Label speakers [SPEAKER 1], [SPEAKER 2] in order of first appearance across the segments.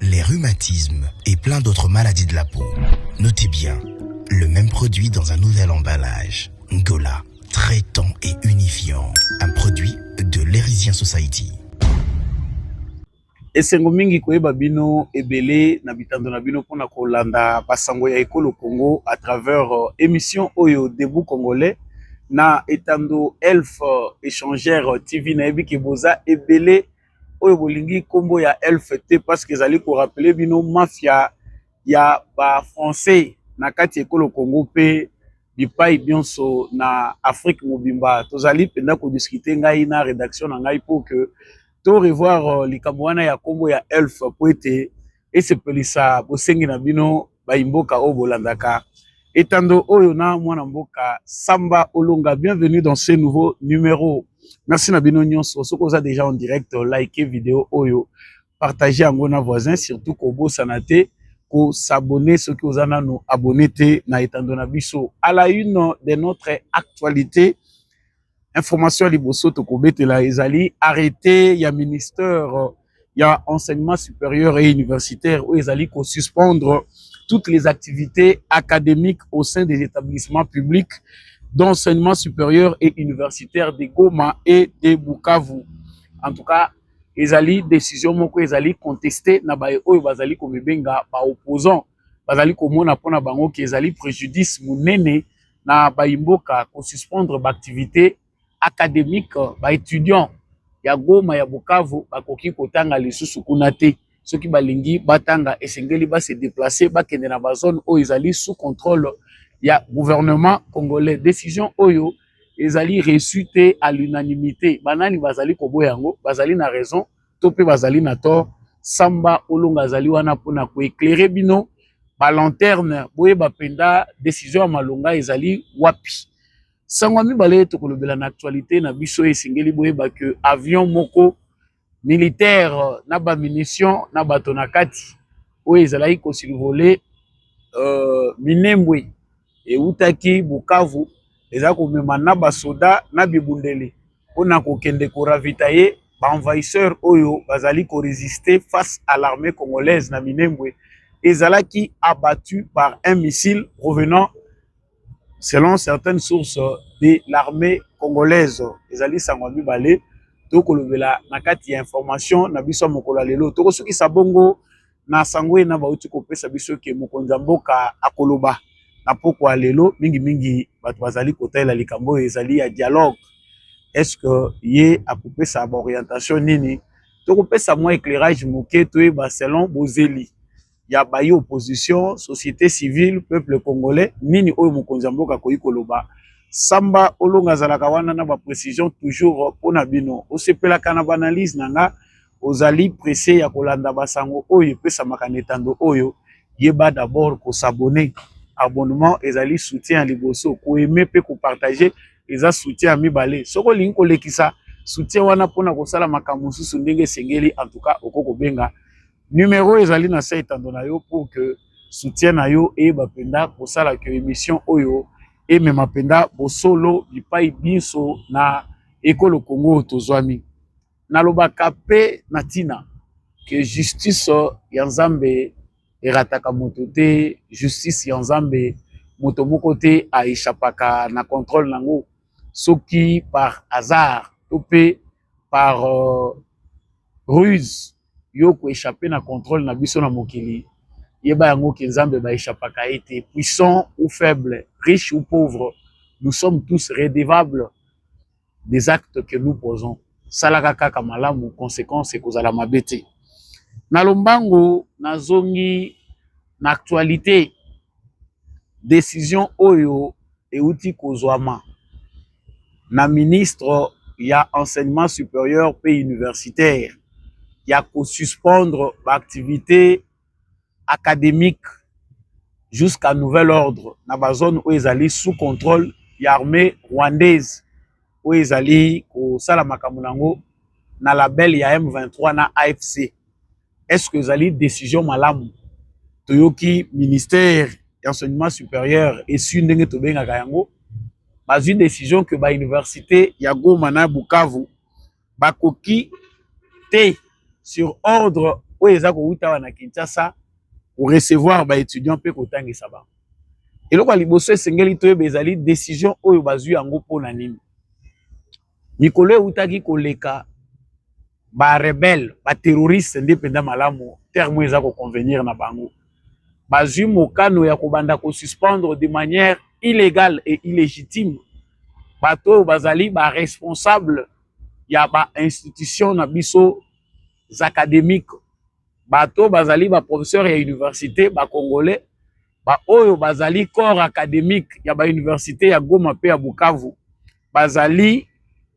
[SPEAKER 1] les rhumatismes et plein d'autres maladies de la peau. Notez bien, le même produit dans un nouvel emballage. Ngola, traitant et unifiant. Un produit de l'Erisien Society.
[SPEAKER 2] esengo mingi koyeba bino ebele na bitando na bino mpona kolanda basango ya ekolo congo à travers euh, émission oyo debout congolais na etando elf euh, échangère tv nayebi ke boza ebele oyo bolingi nkombo ya elf te parceke ezali korapele bino mafia ya bafrançais na kati ya ekolo congo mpe bipai nyonso na afrique mobimba tozali mpenza kodiskute ngai na redaction na ngai mpo ke to revoir euh, likambo wana ya nkombo ya elf mpo ete esepelisa bosengi na bino bayi mboka oyo bolandaka etando oyo na mwana mboka samba olonga bienvenue dans ce nouveau numero merci na bino nyonso soki oza déjà en direct like video oyo partage yango na voisin surtout kobosana te kosabone soki oza nano abone te na etando na biso à la une de notre actualité information ya liboso tokobetela ezali arrete ya ministère ya enseignement supérieur et universitaire oyo ezali kosuspendre toutes les activités académiques au sein des établissements publics d'enseignement supérieur et universitaire de Goma et de Bukavu. En tout cas, ezali décision moko ezali contestée na baye oyo bazali komibenga ba opposants bazali komona mpona bango ke ezali préjudice monene na bayi mboka ko suspendre ba activites academiques ba etudiants ya Goma ya Bukavu bakoki kotanga lisusu kuna te soki balingi batanga esengeli ba se déplacer bakende na ba zone oyo ezali sous contrôle ya gouvernement congolais décision oyo ezali reçu te à l'unanimité banani bazali koboya yango bazali na raison to mpe bazali na tort samba olonga azali wana mpona koeclaire bino balanterne boyeba mpenza decision ya malonga ezali wapi sango ya mibale tokolobela na actualité na biso esengeli boyeba ke avion moko militaire na bamunition na bato na kati oyo ezalaki kosurvole euh, minembwe ewutaki Bukavu eza komema na basoda na bibundeli mpo na kokende ko ravitailler ba envahisseurs oyo bazali ko resister face à l'armée congolaise na Minembwe ezalaki abattu par un missile provenant selon certaines sources de l'armée congolaise ezali sango ya mibale tokolobela na kati ya information na biso ya mokolo ya lelo tokosukisa bongo na sango ena bauti kopesa biso ke mokonzi ya mboka akoloba na pokwa lelo mingimingi bato bazali kotalela likambo oyo ezali ya dialogue estce ye akopesa baorientation nini tokopesa mwa éclairage moke toyeba selon bozeli ya bayi opposition société civile peuple congolais nini oyo mokonzi ya mboka akoki koloba samba olonga azalaka wana na baprécision toujours mpo na bino osepelaka na baanalyse na nga ozali presse ya kolanda basango oyo epesamaka na etando oyo yeba d'abord ko s'abonner abonnement ezali soutien ya liboso ko aimer mpe ko partager eza soutien ya mibale soki olingi kolekisa soutien wana mpona kosala makambo mosusu ndenge esengeli en tout cas okoki kobenga numero ezali na se etando na yo pour que soutien na yo eyeba mpenza kosala que émission oyo emema mpenza bosolo bipai binso na ekolo congo oyo tozwami Nalobaka pe na tina que justice ya Nzambe erataka moto te, justice ya Nzambe moto moko te a echapaka na controle nango soki par hasard to pe par euh, ruse yo ko echapper na controle na biso na mokili yeba yango ke Nzambe ba echapaka ye te, puissant ou faible, riche ou pauvre, nous sommes tous redevables des actes que nous posons salaka kaka malamu conséquence ekozala mabe te na lombango nazongi na actualité décision oyo euti kozwama na ministre ya enseignement supérieur mpe universitaire ya kosuspendre baactivité academique jusqu'à nouvel ordre na ba zone oyo ezali sous contrôle ya armée rwandaise oyo ezali kosala makambo na yango na label ya M23 na AFC. Est-ce que ezali décision malamu? Toyoki ministère ya enseignement supérieur esui ndenge tobengaka yango bazwi décision que ba université ya Goma na Bukavu bakoki te sur ordre oyo eza kowuta awa na kinshasa korecevoir baétudiant mpe kotangisa bango eloko ya liboso esengeli toyeba ezali décision oyo bazwi yango mpo na nini mikolo ewutaki koleka barebele baterroriste nde mpenza malamu terme oyo eza koconvenir na bango bazwi mokano ya kobanda kosuspendre de manière illegale et illégitime bato oyo bazali baresponsable ya bainstitution na biso académique bato oyo bazali baprofesseur ya université bacongolais baoyo bazali corps académique ya bauniversité ya goma mpe ya bukavu bazali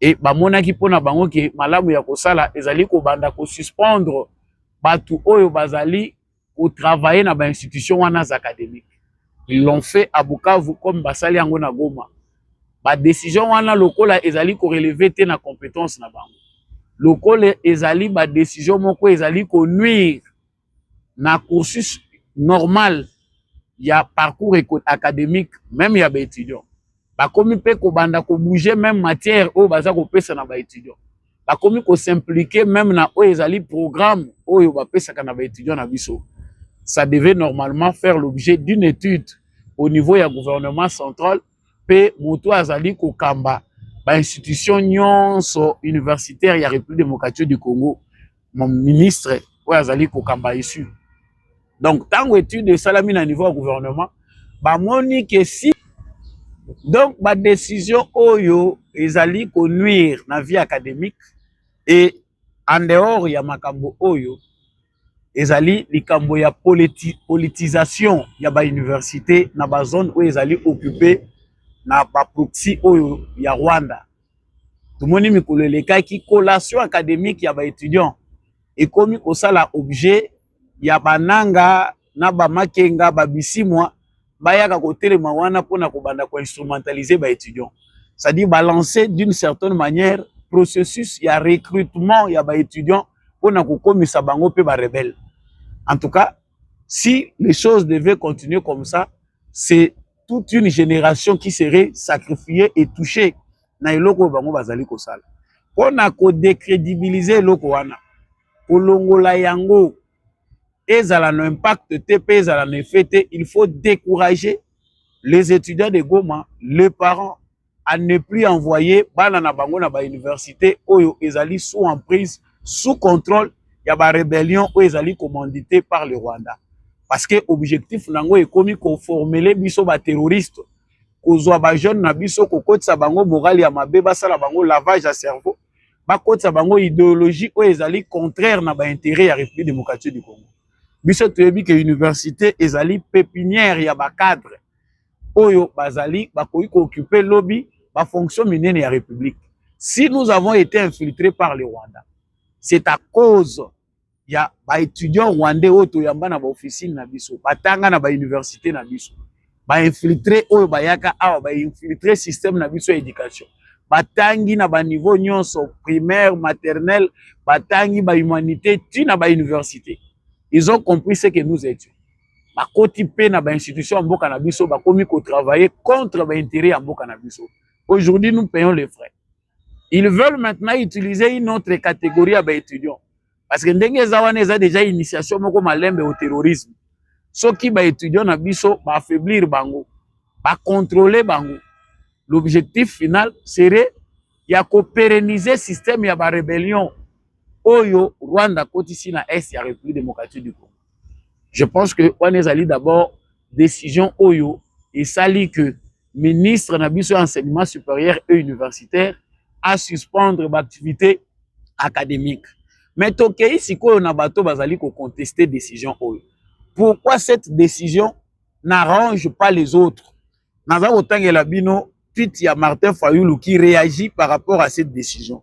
[SPEAKER 2] e bamonaki mpo na bango ke malamu ya kosala ezali kobanda kosuspendre bato oyo bazali kotravaille na bainstitution wana za académique ils l'ont fait à bukavu comme basali yango na goma badecision wana lokola ezali koreleve te na compétence na bango lokola ezali badecision moko ezali konuire na cursus normal ya parcours académique même ya baétudiant bakomi mpe kobanda kobouge même matière oyo baza kopesa na baétudiant bakomi kosimplike même na oyo ezali programme oyo bapesaka na baétudiant na biso ça devait normalement faire l'objet d'une étude au niveau ya gouvernement central mpe moto oyo azali kokamba ba institution nyonso universitaire ya Republique democratique du Congo mon ministre oyo azali kokamba isu donc ntango etude esalami na niveau ya gouvernement bamoni ke si donc badécision oyo ezali konuire na vie académique e en dehors ya makambo oyo ezali likambo ya politi, politisation ya ba université na ba zone oyo ezali occupe na ba proxy oyo ya Rwanda. Tomoni mikolo elekaki collation académique ya ba étudiants ekomi kosala objet ya bananga na ba makenga ba bisimwa bayaka kotelema wana mpona kobanda ko instrumentaliser ba étudiants c'est-à-dire ba lancer d'une certaine manière processus ya recrutement ya ba étudiants mpona kokomisa bango mpe ba rebelle en tout cas si les choses devaient continuer comme ça c'est toute une génération qui serait sacrifiée et touchée na eloko oyo bango bazali kosala mpona kodecredibilize eloko wana kolongola yango ezala na impact te mpe ezala na effet te il faut décourager les étudiants de goma les parents à ne plus envoyer bana na bango na bauniversité oyo ezali sous emprise sous contrôle ya barébellion oyo ezali commandité par le rwanda parce que objectif na yango ekomi koformele biso baterroriste kozwa bajeune na biso kokotisa bango morale ya mabe basala bango lavage ya cerveau bakotisa bango ideologie oyo ezali contraire na bainteret ya république démocratique du congo biso toyebi ke université ezali pépinière ya bacadre oyo bazali bakoki koocupe lobi bafonction minene ya république si nous avons été infiltré par le rwanda c'est à cause ya ba étudiants rwandais oyo toyamba na ba officine na biso batanga na ba université na biso ba infiltré oyo bayaka awa ba infiltré système na biso ya éducation batangi na ba niveau nyonso primaire maternelle batangi ba humanité ti na ba université ils ont compris ce que nous étions bakoti mpe na ba institution ya mboka na biso bakomi ko travailler contre ba intérêt ya mboka na biso aujourd'hui nous payons les frais ils veulent maintenant utiliser une autre catégorie ya baétudiant parce que ndenge eza wana eza déjà initiation moko malembe au terrorisme soki baétudiant na biso baaffaiblir bango bacontrole bango l'objectif final serait ya koperenize systeme ya barébellion oyo rwanda akotisi na est ya république démocratique du congo je pense que wana ezali d'abord décision oyo esali que ministre na biso ya enseignement supérieur et universitaire a suspendre ba activité académique mais tokei sikoyo na bato bazali koconteste décision oyo pourquoi cette décision n'arrange pas les autres naza kotangela bino tweet ya martin fayulu qui réagit par rapport à cette décision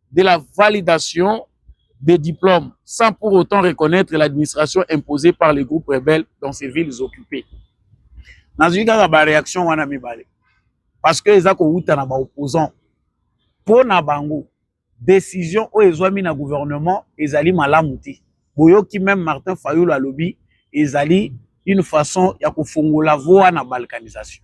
[SPEAKER 2] de la validation des diplômes sans pour autant reconnaître l'administration imposée par les groupes rebelles dans ces villes occupées. nazwi kaka baréaction wana mibale parce que eza kowuta na baopposant mpo na bango décision oyo ezwami na gouvernement ezali malamu te boyoki meme martin fayulu alobi ezali une façon ya kofongola voa na balkanisation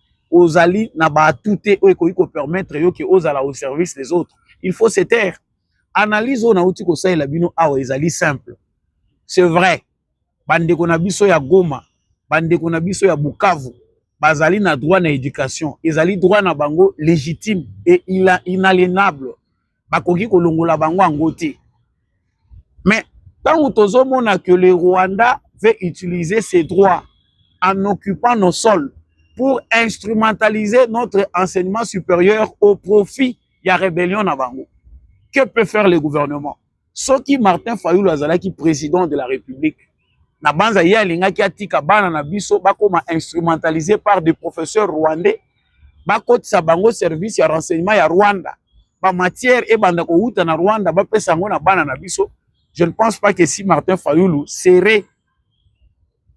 [SPEAKER 2] ozali na ba atout te oyo ekoki ko permettre yo ke ozala au service des autres il faut se taire analyse oyo nauti kosalela bino awa ezali simple c'est vrai bandeko na biso ya goma bandeko na biso ya bukavu bazali na droit na education ezali droit na bango légitime et inalienable bakoki kolongola bango yango te mais ntango tozomona que le rwanda veut utiliser ses droits en occupant nos sols pour instrumentaliser notre enseignement supérieur au profit ya rébellion na bango que peut faire le gouvernement soki martin fayulu azalaki président de la république na banza ye alingaki atika bana na biso bakoma instrumentalisé par des professeurs rwandais bakotisa bango service ya renseignement ya Rwanda ba matière ebanda kowuta na Rwanda bapesa yango na bana na biso je ne pense pas que si Martin Fayulu serait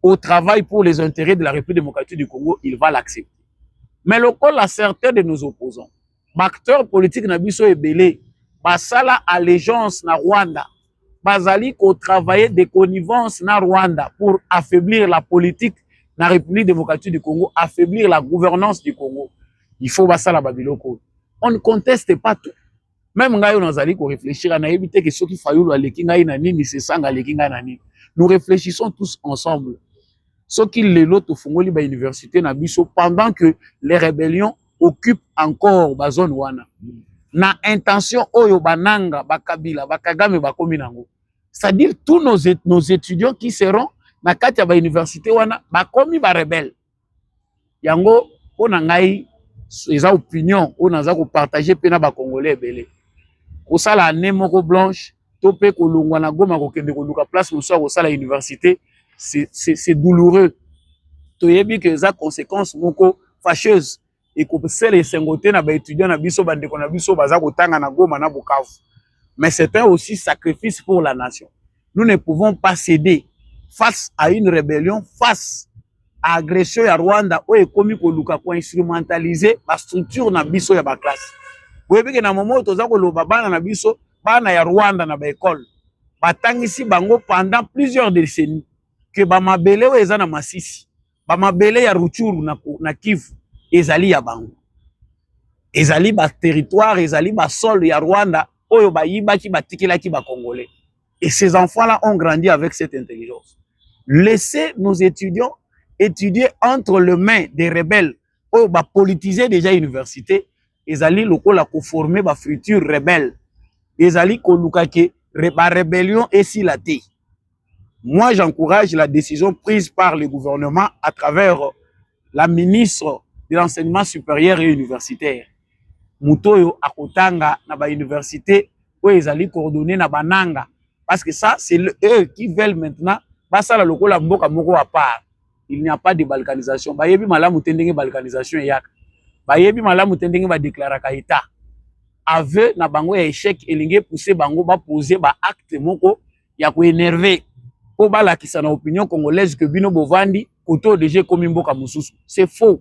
[SPEAKER 2] au travail pour les intérêts de la République démocratique du Congo il va l'accepter mais lokola certains de nos opposants ba acteurs politiques na biso ebele basala allégeance na Rwanda bazali ko travailler de connivence na Rwanda pour affaiblir la politique na République démocratique du Congo, affaiblir la gouvernance du Congo. Il faut basala ba biloko. On ne conteste pas tout. Même ngai on azali ko réfléchir na yebite que soki Fayulu aleki ngai na nini, c'est sanga aleki ngai na nini. Nous réfléchissons tous ensemble. Soki lelo tofungoli ba université na biso pendant que les rébellions occupe encore ba zone wana na intention oyo bananga bakabila bakagame bakomi nango c'est-à-dire tous nos, nos étudiants qui seront na kati ya bauniversité wana bakomi barebele yango mpo na ngai eza opinion oyo naza kopartage mpe na bacongolais ebele kosala ane moko blanche to pe kolongwa na Goma kokende koluka place mosusu ya kosala université c'est douloureux toyebi que eza conséquence moko fâcheuse ekosala esengo te na baétudiant na biso bandeko na biso baza kotanga na Goma na Bukavu mais c'est un aussi sacrifice pour la nation nous ne pouvons pas céder face à une rébellion face à agression ya Rwanda oyo ekomi koluka ko instrumentaliser ba structure na biso ya ba classe boyebi que na moment oyo toza koloba bana na biso bana ya rwanda na baekole batangisi bango pendant plusieurs décennies ke bamabele oyo eza na masisi bamabele ya ruchuru na, na kivu ezali ya bango ezali baterritoire ezali basole ya rwanda oyo bayibaki batikelaki bacongolais et ces enfants là ont grandi avec cette intelligence laissez nos étudiants étudier entre le main des rebelles oyo bapolitise déjà université ezali lokola ko former ba futurs rebelles ezali koluka ke ba rebellion esila te moi j'encourage la décision prise par le gouvernement à travers la ministre de l'enseignement supérieur et universitaire moto oyo akotanga na ba université oyo ezali coordonné na bananga parce que ça c'est eux qui veulent maintenant basala lokola mboka moko à part il n'y a pas de balkanisation bayebi malamu te ndenge balkanisation eyaka bayebi malamu te ndenge badeklaraka etat aveu na bango ya echec elingi epousse bango bapose baacte moko ya koenerve mpo balakisa na opinion congolaise ke bino bovandi koto deja ekomi mboka mosusu c'est faux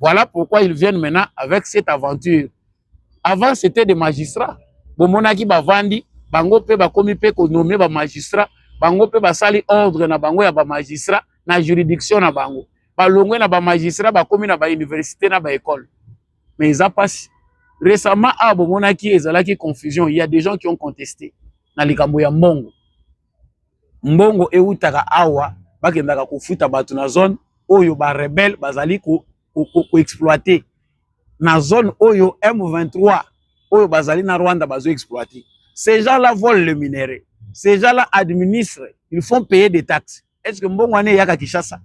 [SPEAKER 2] Voilà pourquoi ils viennent maintenant avec cette aventure. Avant, c'était des magistrats. Bomonaki bavandi, bango pe bakomi pe ko nommer ba magistrats, bango pe basali ordre na bango ya ba magistrats na juridiction na bango. Balongwe na ba magistrats bakomi na ba université na ba école. Mais eza pasi. Récemment, ah bomonaki ezalaki confusion, il y a des gens qui ont contesté na likambo ya mbongo. mbongo ewutaka awa bakendaka kofuta bato na zone oyo ba rebelle bazali koexploite ko, ko na zone oyo M23 oyo bazali na Rwanda bazo exploite ces gens là volent le minerai ces gens là administrent ils font payer des taxes est ce que mbongo wana eyaka Kinshasa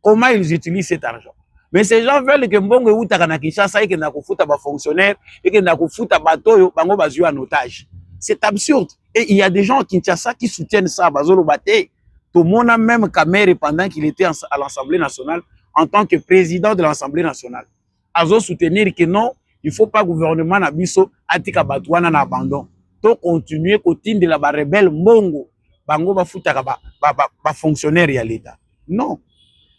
[SPEAKER 2] comment ils utilisent cet argent mais ces gens veulent que mbongo ewutaka na kinshasa ekenda kofuta bafonctionnaire ekenda kofuta bato oyo bango bazwi en otage c'est absurde et il y a des gens à kinshasa qui soutiennent ça bazoloba te tomona même kamere pendant qu'il était à l'assemblée nationale en tant que président de l'assemblée nationale azo soutenir que non il faut pas gouvernement na biso atika bato wana na abandon to continuer kotindela ba rebelle mbongo bango bafutaka ba, ba, ba, ba fonctionnaire ya leta non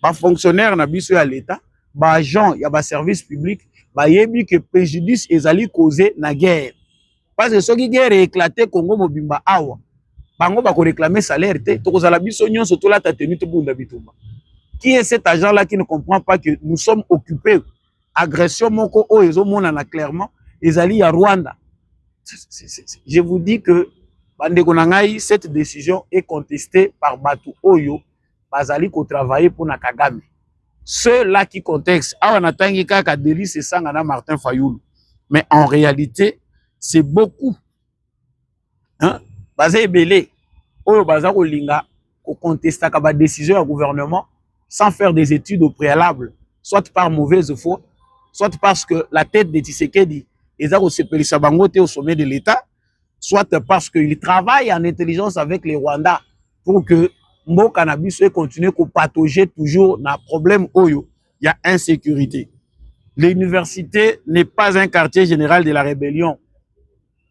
[SPEAKER 2] ba fonctionnaire na biso ya leta ba agent ya ba service public bayebi que préjudice ezali cause na guerre parce que soki guerre éclate Congo mobimba awa bango ba ko réclamer salaire te tokozala biso nyonso tolata tenue tobunda bitumba qui est cet agent là qui ne comprend pas que nous sommes occupés agression moko oyo ezomonana clairement ezali ya Rwanda je vous dis que bandeko na ngai cette décision est contestée par bato oyo bazali ko travailler mpo na Kagame ce là qui contexte awa natangi kaka Delice Sanga na Martin Fayulu mais en réalité c'est beaucoup hein? baza ebele oyo baza kolinga kocontestaka badécision ya gouvernement sans faire des études au préalable soit par mauvaise foi soit parce que la tête de Tshisekedi eza kosepelisa bango te au sommet de l'État soit parce qu'il travaille en intelligence avec les Rwandais pour que mboka na biso ekontinue kopatoge toujours na problème oyo ya insécurité l'université n'est pas un quartier général de la rébellion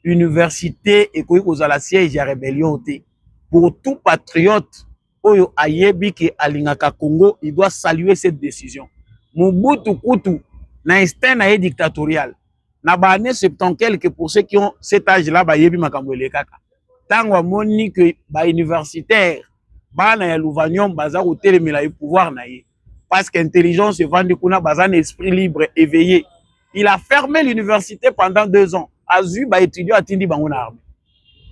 [SPEAKER 2] université ekoki kozala siège ya rébellion te pour tout patriote oyo ayebi ke alingaka congo il doit saluer cette décision mobutu kutu na instinct na ye dictatorial na ba année 70 quelque pour ceux qui ont cet âge là bayebi makambo elekaka ntango amoni ke ba universitaire bana ya louvanium baza kotelemela ye pouvoir na ye parce que intelligence evandi kuna baza na esprit libre éveillé il a fermé l'université pendant deux ans azwi ba étudiant atindi bango na armée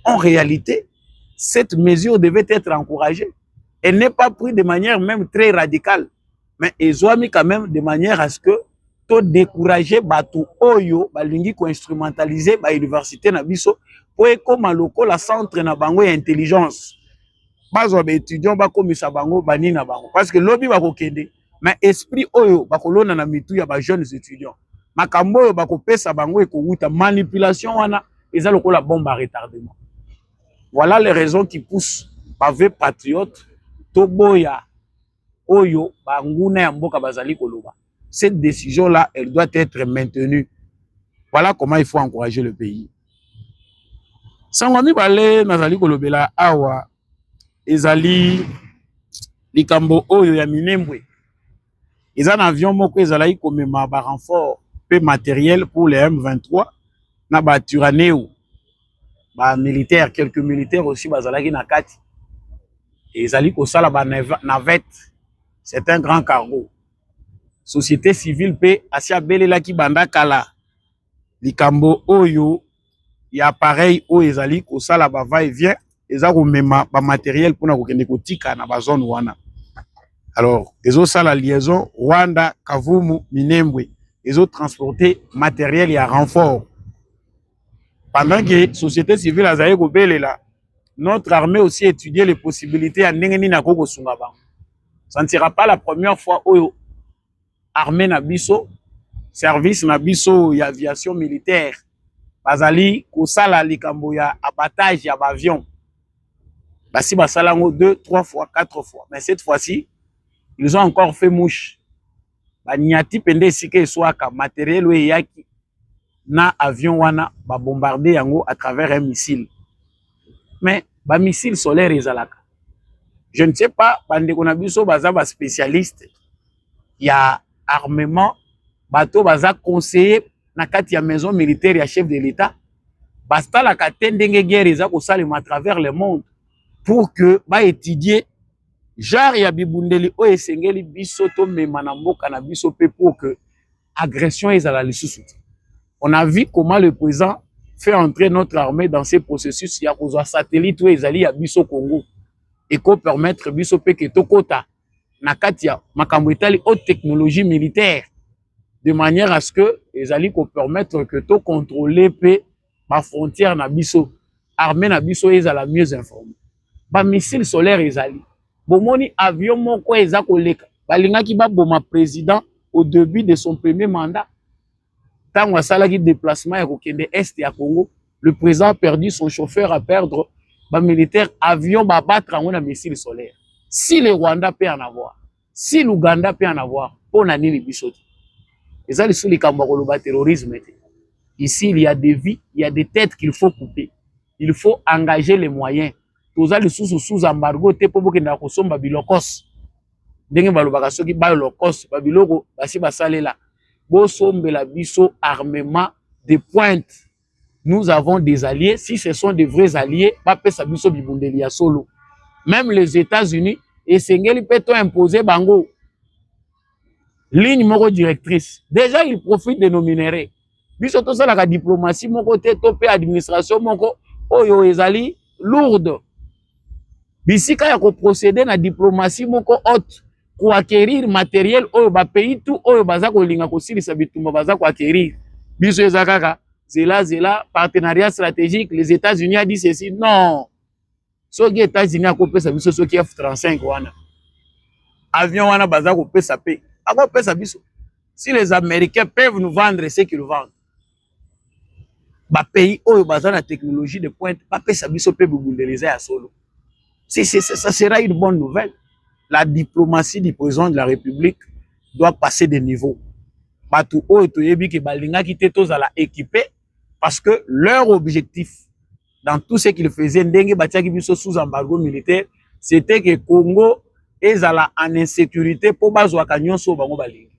[SPEAKER 2] en réalité cette mesure devait être encouragée elle n'est pas prise de manière même très radicale mais ezwami quand même de manière à ce que to décourager bato oyo balingi koinstrumentalize bauniversité na biso mpo ekóma lokola centre na bango ya intelligence bazwa baétudiant bakomisa bango bani na bango parce que lobi bakokende mais esprit oyo bakolona na mitu ya bajeunes étudiants makambo oyo bakopesa bango ekowuta manipulation wana eza lokola bombe à retardement voilà les raisons qui poussent bave patriote toboya oyo banguna ya mboka bazali koloba cette décision là elle doit être maintenue voilà comment il faut encourager le pays sango ya mibale nazali kolobela awa ezali likambo oyo ya minembwe eza na avion moko ezalaki komema barenfort mpe materiel pour le m23 na baturaneo ba militaire quelques militaires aussi bazalaki na kati ezali kosala ba navette c'est un grand cargo société civile mpe asi abelelaki banda kala likambo oyo ya appareil oyo ezali kosala ba va et vient eza komema ba matériel mpona kokende kotika na ba zone wana alors ezosala liaison rwanda kavumu minembwe ezotransporte matériel ya renfort pendant que société civile azali kobelela notre armée aussi étudier les possibilités ya ndenge nini akoki kosunga bango ça ne sera pas la première fois oyo armée na biso service na biso ya aviation militaire bazali kosala likambo ya abattage ya baavion basi basala yango deux trois fois quatre fois mais cette fois-ci ils ont encore fait mouche baniati mpenza esika eswaka materiel oyo eyaki na avion wana ba bombarder yango à travers un missile mais ba missile solaire ezalaka je ne sais pas bandeko na biso baza ba spécialiste ya armement bato baza conseiller na kati ya maison militaire ya chef de l'État basalaka te ndenge guerre eza kosalema à travers le monde pour que ba étudier genre ya bibundeli oyo esengeli biso tomema na mboka na biso mpe pour que agression ezala lisusu te on a vu comment le président fait entrer notre armée dans ce processus ya kozwa satellite oyo ezali ya biso congo eko permettre biso mpe ke tokota na kati ya makambo etali haute technologie militaire de manière à ce que ezali ko permettre que to contrôler mpe ba frontières na biso armée na biso ezala mieux informée ba missile solaire ezali bomoni avion moko eza koleka balingaki baboma président au début de son premier mandat ntango asalaki déplacement ya kokende est ya congo le président a perdu son chauffeur a perdre bamilitaire avion babattre yango na missile solaire si le rwanda peut en avoir si l'Ouganda peut en avoir mpo na nini biso te eza lisusu likambo ya koloba terrorisme te ici il y a des vies il y a des têtes qu'il faut couper il faut engager les moyens toza lisusu sous embargo te mpo bokendaka kosomba bilokos ndenge balobaka soki balokos babiloko basi basalela bosombela biso armement de pointe nous avons des alliés si ce sont des vrais alliés bapesa biso bibundeli ya solo même les états-unis esengeli mpe to impose bango ligne moko directrice déjà il profite de nos minerais biso tosalaka diplomatie moko te to mpe administration moko oyo ezali lourde bisika ya ko procéder na diplomatie moko haute ko acquérir matériel oyo ba pays tout oyo baza kolinga kosilisa bitumba baza ko acquérir biso eza kaka zela zela partenariat stratégique les États-Unis a dit ceci non soki États-Unis akopesa biso soki F35 wana avion wana baza kopesa pe akopesa biso si les Américains peuvent nous vendre ce qu'ils vendent ba pays oyo baza na technologie de pointe bapesa biso mpe bibundeli eza ya solo si, si, si, ça sera une bonne nouvelle la diplomatie du président de la république doit passer de niveau bato oyo toyebi ke balingaki te tozala équipe parce que leur objectif dans tout ce qu'il faisait ndenge batiaki biso sous embargo militaire c'était que Congo ezala en insécurité mpo bazwaka nyonso oyo bango balingi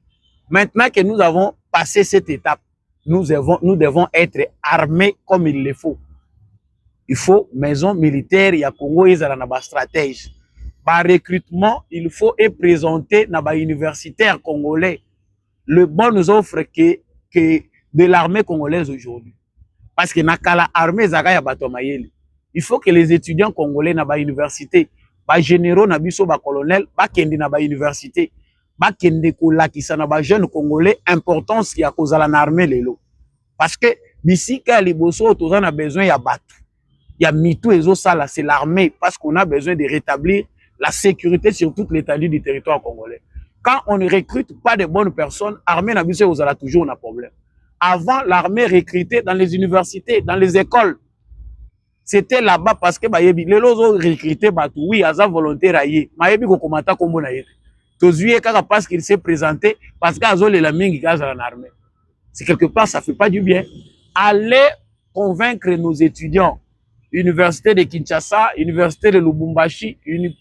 [SPEAKER 2] maintenant que nous avons passé cette étape nous devons, nous devons être armés comme il le faut il faut maison militaire ya Congo ezala na bastratège barecrutement il faut eprésente na bauniversitaire congolais le bon nous offre que, que de l'armée congolaise aujourd'hui. Parce que Nakala armée Zaka ya bato mayele. Il faut que les étudiants congolais na ba université, ba généraux na biso ba colonels, ba kende na ba université, ba kende ko lakisa na ba jeunes congolais importance ya kozala na armée lelo. Parce que bisika ya liboso toza na besoin ya bato. ya mitu ezosala c'est l'armée parce qu'on a besoin de rétablir la sécurité sur toute l'étendue du territoire congolais quand on ne recrute pas de bonnes personnes armée na biso ekozala toujours na problème avant l'armée recrutée dans les universités dans les écoles c'était là-bas parce que bayebi lelo ozo recruter bato oui aza volontaire aye mayebi kokoma ata kombo na ye te tozwi ye kaka parce qu'il s'est présenté parce que azolela mingi azala na armée c'est quelque part ça fait pas du bien aller convaincre nos étudiants Université de Kinshasa, Université de Lubumbashi,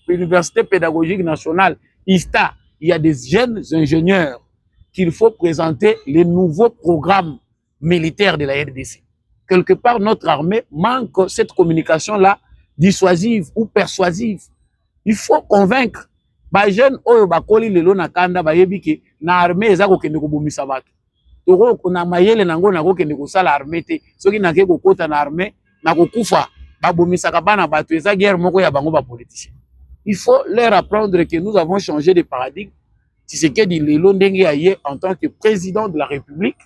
[SPEAKER 2] Université pédagogique nationale, ISTA. Il y a des jeunes ingénieurs qu'il faut présenter les nouveaux programmes militaires de la RDC. Quelque part, notre armée manque cette communication-là dissuasive ou persuasive. Il faut convaincre les jeunes oyo bakoli lelo na kanda bayebi ke na armée eza kokende kobomisa bato toko na mayele nango nakokende kosala armée te soki nake kokota na armée nakokufa babomisaka bana bato eza guerre moko ya bango bapoliticien il faut leur apprendre que nous avons changé de paradigme tisekedi lelo ndenge aye en tant que président de la république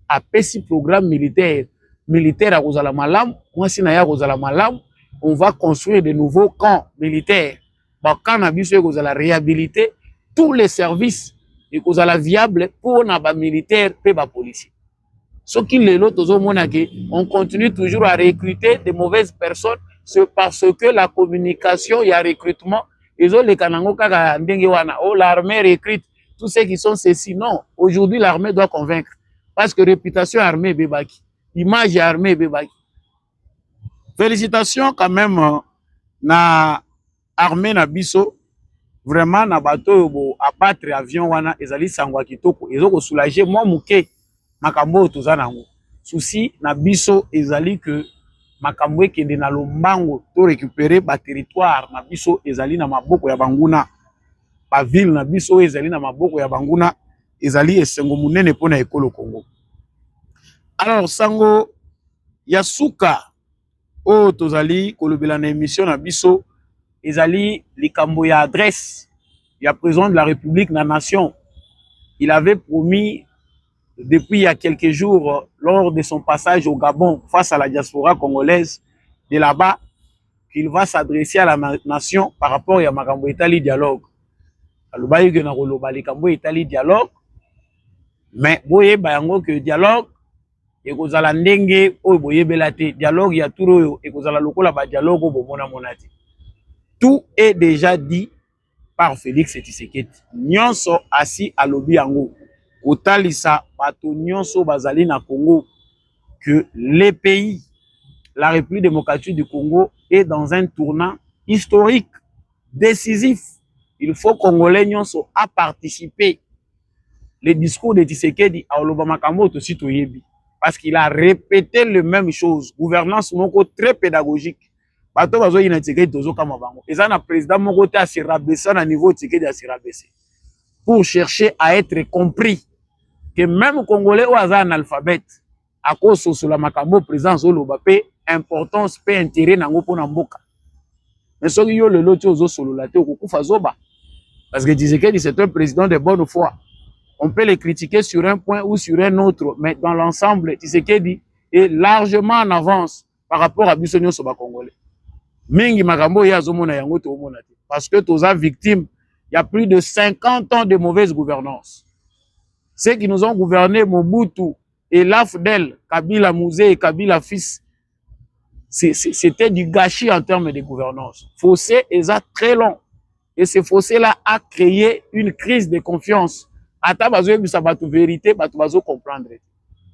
[SPEAKER 2] apesi programme militaire militaire akozala malamu mwasi na ye akozala malamu on va construire de nouveaux camps militaires ba camp na biso ekozala rehabilite tous les services ekozala viable mpo na bamilitaire mpe bapolicier soki lelo tozomona ke on continue toujours à recruter de mauvaises personnes c'est parce que la communication ya recrutement ezoleka nango kaka ndenge wana oh l'armée recrute tous ceux qui sont ceci non aujourd'hui l'armée doit convaincre parce que réputation ya armée ebebaki image ya armée ebebaki Felicitations quand même euh, na armée na biso vraiment na bato oyo bo abattre avion wana ezali sango ya kitoko ezo ko soulager mwa moke makambo oyo toza nango souci na biso ezali que makambo ekende na lombango to récupérer ba territoire na biso ezali na maboko ya banguna ba ville na biso oyo ezali na maboko ya banguna ezali esengo monene mpo na ekolo Congo. Alors sango ya suka oyo tozali kolobela na emission na biso ezali likambo ya adresse ya président de la République na nation. Il avait promis depuis il y a quelques jours lors de son passage au Gabon face à la diaspora congolaise de là-bas qu'il va s'adresser à la nation par rapport ya makambo etali dialogue alobaki ke na koloba likambo etali dialogue mais boyeba yango ke dialogue ekozala ndenge oyo boyebela te dialogue ya tour oyo ekozala lokola badialogue oyo bomonamona te tout est déjà dit par Felix Tshisekedi. Nyonso asi alobi yango kotalisa bato nyonso bazali na Congo que le pays la République démocratique du Congo est dans un tournant historique décisif. Il faut Congolais nyonso a participer. Le discours de Tshisekedi a oloba makambo tosi toyebi parce qu'il a répété le même chose. Gouvernance moko très pédagogique. bato bazo yina Tshisekedi tozo kama bango eza na president moko te se rabaisser na niveau Tshisekedi se rabaisser pour chercher à être compris que même congolais oyo aza analphabète akososola makambo président azoloba mpe importance mpe intérêt na yango mpona mboka mais soki yo lelo ti ozosolola te okokufa zoba parce que Tshisekedi c'est un président de bonne foi on peut le critiquer sur un point ou sur un autre mais dans l'ensemble Tshisekedi est largement en avance par rapport à biso nyoso ba congolais mingi makambo ye azomona yango toomona te parce que toza victime il y a plus de 50 ans de mauvaise gouvernance ceux qui nous ont gouverné Mobutu et l'AFDEL Kabila Mouzé et Kabila fils c'était du gâchis en termes de gouvernance fossé eza très long et ce fossé là a créé une crise de confiance ata bazoyebisa bato verité bato bazo comprendre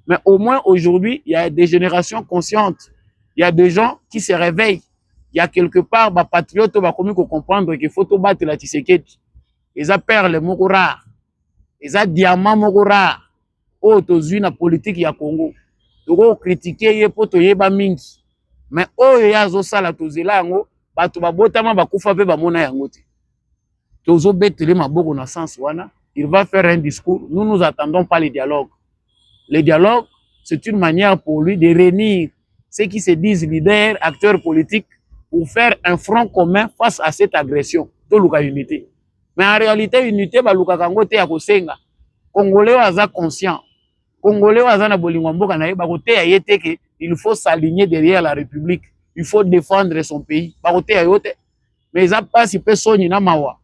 [SPEAKER 2] mais au moins aujourd'hui il y a des générations conscientes il y a des gens qui se réveillent il y a quelque part bapatriote bakomi kocomprendre qu'il faut tobatela tshisekedi eza perle moko rare eza diamant moko rare oyo tozwi na politiki ya Congo toko kritike ye mpo toyeba mingi me oyo ye azosala tozela yango bato babotama bakufa mpe bamona yango te tozobetele maboko na sens wana il va faire un discours nous nous attendons pas le dialogue le dialogue c'est une manière pour lui de réunir ceux qui se disent leaders acteurs politiques pour faire un front commun face à cette agression toluka unité mais en réalité unité balukaka yango te ya kosenga congolais oyo aza conscient congolais oyo aza na bolingo ya mboka na ye bakoteya ye te ke il faut s'aligner derrière la république il faut défendre son pays bakoteya yo te mais eza mpasi mpe soni na mawa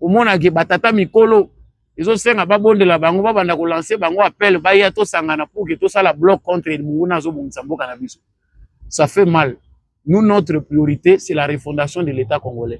[SPEAKER 2] omonake batata mikolo ezosenga babondela bango babanda kolanse bango appel baya tosangana pour ke tosala bloc contre monguna azobongisa mboka na biso ça fait mal nous notre priorité c'est la refondation de l'état congolais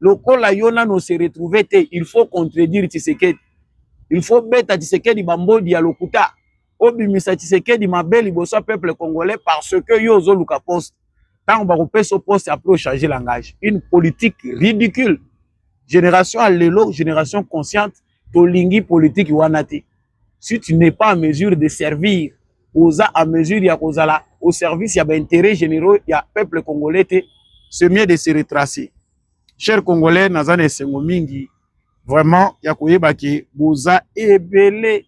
[SPEAKER 2] lokola yo nano ose retrouve te il faut contredire tshisekedi il faut beta tshisekedi bambodi ya lokuta obimisa tshisekedi mabe liboso ya peuple congolais parce que yo ozoluka poste ntango bakopesa poste apres ochange langage une politique ridicule génération ya lelo génération consciente tolingi politiki wana te si tu n'es pas en mesure de servir oza en mesure ya kozala au service ya baintérêt généraux ya peuple congolais te c'est mieux de se retracer cher congolais naza na esengo mingi vraiment ya koyeba ke boza ebele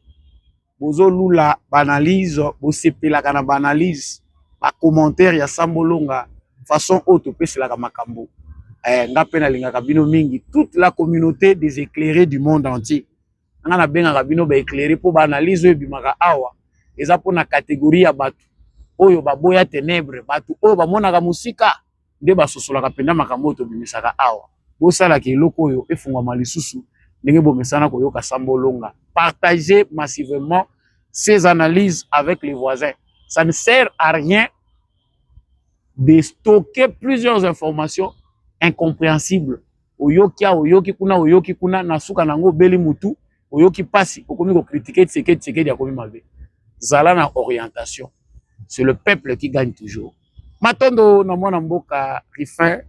[SPEAKER 2] bozolula baanalyse bosepelaka na baanalyse bacommentaire ya sambolonga façon oyo topeselaka makambo eh, nga mpe nalingaka bino mingi toute la communauté des éclairés du monde entier nga na bengaka bino ba éclairé po ba analyse oyo bimaka awa eza pona catégorie ya batu oyo baboya ténèbres batu oyo bamonaka musika nde basosolaka mpenza makambo oyo tobimisaka awa bosalaka eloko oyo efungwama lisusu ndenge bomesana koyoka sambo olonga partager massivement ces analyses avec les voisins ça ne sert à rien de stocker plusieurs informations incompréhensibles oyoki awa oyoki kuna oyoki kuna na suka na yango obeli mutu oyoki pasi okomi ko critiquer Tshisekedi Tshisekedi akomi mabe zala na orientation c'est le peuple qui gagne toujours matondo na mwana mboka Rifin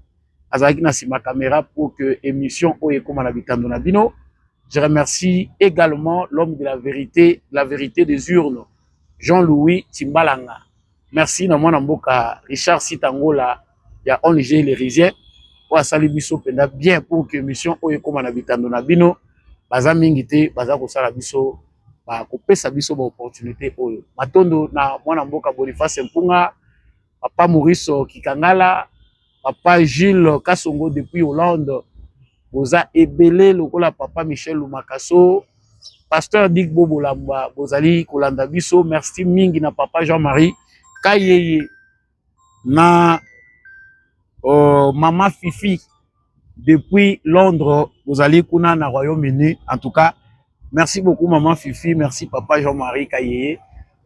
[SPEAKER 2] azalaki na sima caméra pour que émission oyo ekoma na bitando na bino je remercie également l'homme de la vérité la vérité des urnes Jean-Louis Timbalanga Merci na mwana mboka Richard Sitangola ya ONG Lerizien oyo asali biso mpenza bien pour que émission oyo ekoma na bitando na bino baza mingi te baza kosala biso bakopesa biso baopportunité oyo matondo na mwana mboka Boniface Mpunga papa Maurice Kikangala Papa Jules Kasongo depuis Hollande. Boza ebele lokola papa Michel Lumakaso. Pasteur Dick Bobo Lamba, bozali kolanda biso. Merci mingi na papa Jean-Marie Kayeye na uh, mama Fifi depuis Londres, bozali kuna na Royaume-Uni. En tout cas, Merci beaucoup maman Fifi, merci papa Jean-Marie Kayeye.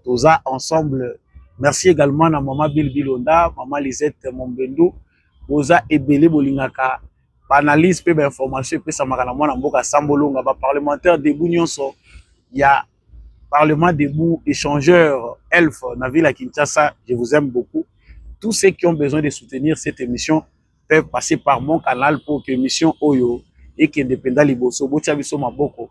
[SPEAKER 2] Toza ensemble. Merci également na maman Bill Bilonda, maman Lisette Mombendou. Boza ebele bolingaka banalyse mpe bainformation epesamaka na mwana mboka sambolonga baparlementaire debout nyonso ya parlement debout échangeur elf na ville ya kinshasa je vous aime beaucoup tous ceux qui ont besoin de soutenir cette émission peuvent passer par mon canal pour que émission oyo ekende mpenza liboso botya biso maboko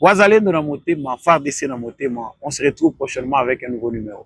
[SPEAKER 2] wazalendo na motema fardc na motema on se retrouve prochainement avec un nouveau numéro